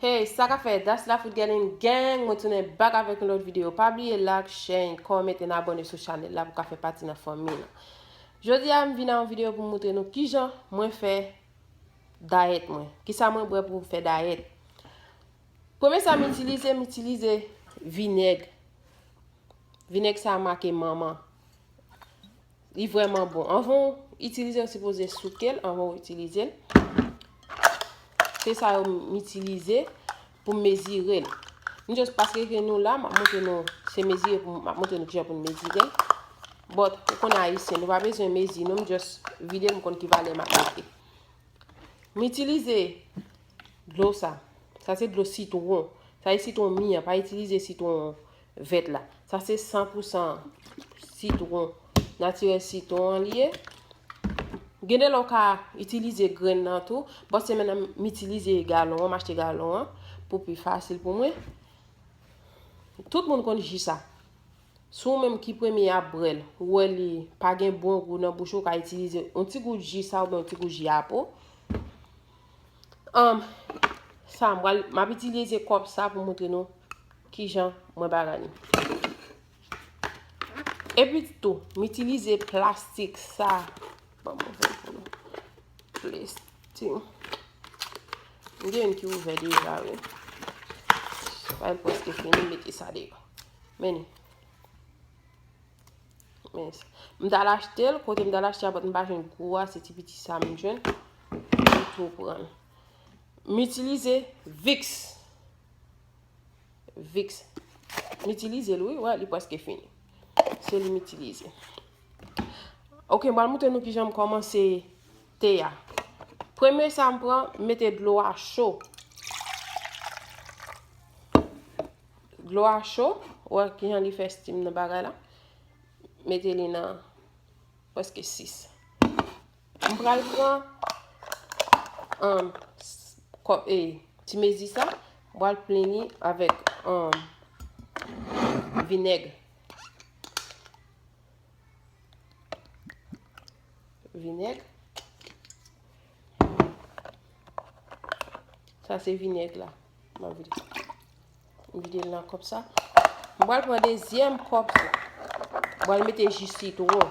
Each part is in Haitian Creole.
Hey sa kap fè das la fout gèlin gang mwen tounen bak avèk yon lòt videyo pa bliye lak chèn kòment en abone sou chanèl la pou ka fè pati nan fanmi nan jodi a m vin nan yon videyo pou moutre nou kijan mwen fè dayèt mwen kisa mwen bwè pou fè dayèt premye sa m itilize m itilize vinèg vinèg sa make manman Li vreman bon. Anvan ou itilize, ou sipoze souke l anvan ou itilize l. Se sa yo m itilize pou m mezire l. M just pase ke nou la, m ap montre nou se mezire pou m ap montre nou kijan pou nou mezire l. But, ou konn ayisyen, nou pa bezwen mezi nou, m just vide l m konn ki valè m ap mete. M itilize dlo sa. Sa se dlo sitwon. Sa e sitwon mi an, pa itilize sitwon Vèt la. Sa se 100 pou 100 sitwon natirèl sitwon an li ye. Gen de lè w ka itilize grenn nan tou. Bon se men nan m itilize galon an, m achte galon an pou pi fasil pou mwen. Tout moun konn ji sa. Si w menm ki premye ap bwè l, ou wè li pa gen bon gou nan bouch ou, ou ka itilize yon ti gout ji sa oubyen yon ti gout ji apo. Am sa mwen map itilize kòp sa pou moutre nou ki jan mwen bagay ni. E pi tou, m itilize plastik sa. Bon, mwen fè pou nou. Plastik. M gen yon ki ouvè deja we. Mwen poske fini meti sa deyo. Meni. Men, m ta al achte l, kote m ta al achte a bat m pa jwenn gwo a, se ti piti sa m jwenn. M tou pran. M itilize Vicks. Vicks. M itilize l wi, wè, li preske fini. Se li m itilize. Ok, m pral moutre nou ki jan m komanse te a. Premye sa m pran, m mete dlo a cho. Dlo a cho, wè kijan li fè steam nan bagay la. Mete li nan preske 6. M pral pran um, kòp e ti mezi sa, m pral plen li avèk um, vinèg. Vinèg. Sa se vinèg la. Mwen vide. Mwen vide nan kòp sa. Mwen bal pran dezyèm kòp sa. Mwen bal mete ji sitron.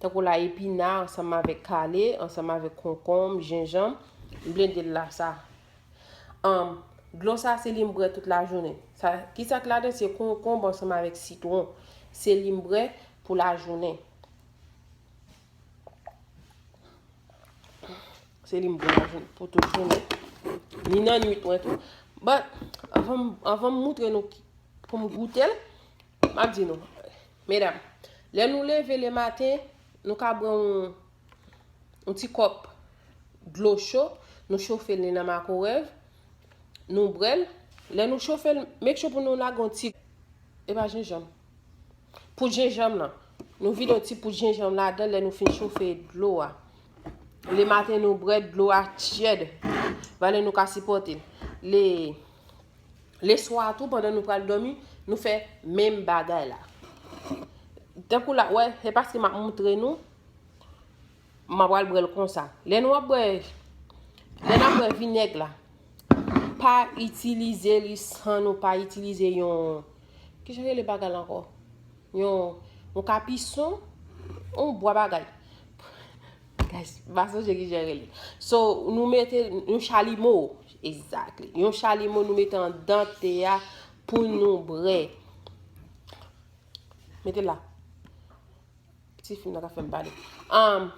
Tankou la epina ansanm avèk kale, ansanm avèk konkonm, jenjanm, m blende l la sa. Anm, dlo sa se li m brè tout lajounen. Sa, ki sa k ladan? Se konkonb ansanm avèk sitwon. Se li m brè pou lajounen. Se li m brè lajounen, pou tout jounen. Ni nan nwit mwen tou. But, anvan m, anvan m moutre nou ki, pou m goute l, m ap di nou. Medam, lè nou leve le maten, nou ka bwè yon yon ti kòp dlo cho, nou chofe li nan makorèv, nou bwè l, lè nou chofe l, make sure pou nou lage yon ti e pa jenjanm, poud jenjanm lan, nou vide yon ti poud jenjanm ladan l lè nou fin chofe dlo a. Le maten nou bwè dlo a tyèd, valè nou ka sipòte l. Le Leswa a tou pandan nou pral dòmi, nou fè menm bagay la. Tankou la, wè, se paske map moutre nou, map pral bwèl konsa. Lè nou ap bwè, lè nap bwè vinèg la, pa itilize li san nou pa itilize yon, ki jan rele bagay la ankò? Yon, yon kapison, yon bwa bagay. Guys, m pa sonje kijan rele li. So, nou mete yon chalimo. Exactly. Yon chalimo nou mete an dan te a pou nou bre. Mete la. Ti fim nan ka fèm pale. Um,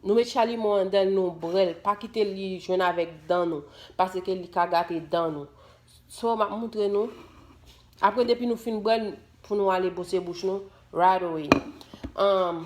nou met chalimo an dan nou brel. Pa kite li jwenn avèk dan nou. Pase ke li ka gate dan nou. So, map moutre nou. Apre depi nou fin brel pou nou ale bwose bouch nou. Right away. Um,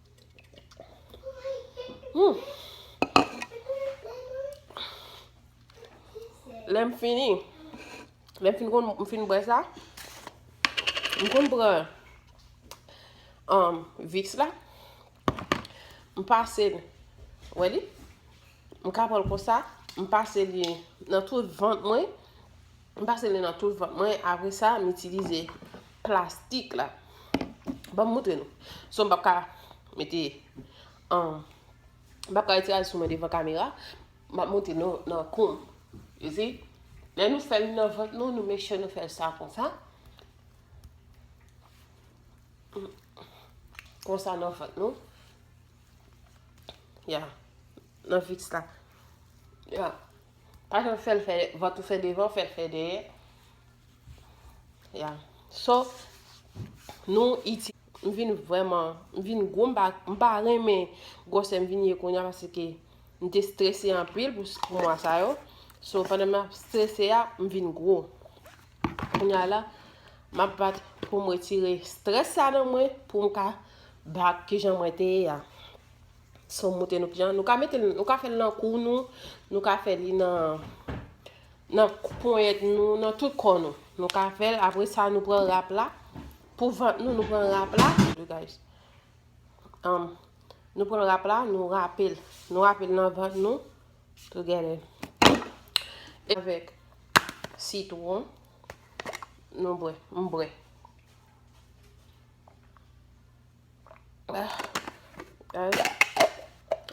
Hmm. Lè m fini, lè m fin kon m fin bwè sa, m kon pran um, viks la, m pase l, wè li, m kapon l konsa, m pase li nan tout vant mwen, M pase li nan tout vant mwen apre sa m itilize plastik la. Banm moutre nou. So m pap ka mete an m pap ka itiraje sou mwen devan kamera. M ap moutre nou nan koum. You see? Lè nou fè li nan vant nou, nou make sure nou fè sa konsa. Konsa nan vant nou. Ya. Nan fix la. Ya. Pa janm fèl fè vant ou fè devan, fèl fè dèyè. Ya. So, nou iti. M vin vreman, m vin gwo, m pa renmen gwosè m vin ye konya paske m te strese anpil pou mwa sa yo. So, pandan m ap strese a, m vin gwo. Konya la, m ap bat pou m retire strese sa nan mwen pou m ka bak ki jan mwen te ye a. Si w moute nou ki jan, nou ka mete l, nou ka fè l nan kou nou, nou ka fè li nan nan ponyèt nou, nan tout kò nou. Nou ka fè l, apre sa nou pran rap la, pou vant nou, nou pran rap la, you guys, um, nou pran rap la, nou rape l, nou rape l nan vant nou, together, avèk sitwon, nou bwè, m bwè.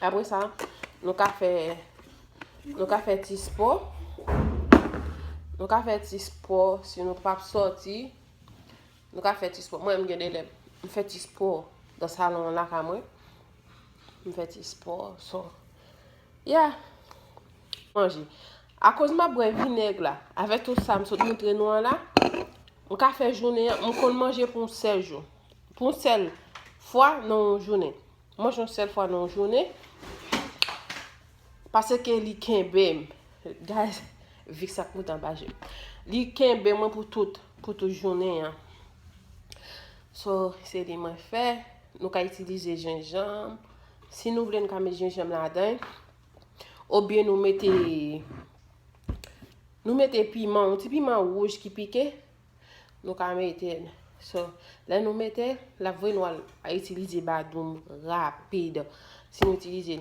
Apre sa, nou ka fè nou ka fè ti spò. Nou ka fè ti spò si nou pap sòti. Nou ka fè ti spò. Mwen m gen de lè m fè ti spò nan salon an lakay mwen. M fè ti spò. So, yeah. Manje. Akoz m ap bwè vinèg la, avèk tout sa m sot montre nou an la, m ka fè jounen an, m konn manje pou 16 jou. Pou yon sèl fwa nan yon jounen. Manje yon sèl fwa nan yon jounen. Pase ke li kenbe m. Guys, vik sa koutan pa je. Li kenbe mwen pou tout, pou tout jounen an. So, se li mwen fè. Nou ka itilize jenjanm. Si nou vle nou ka met jenjanm la den. Ou byen nou mete, nou mete piman, yon ti piman wouj ki pike. Nou ka metel So lè nou metel lap voye nou al itilize badoum rapid Si nou itilize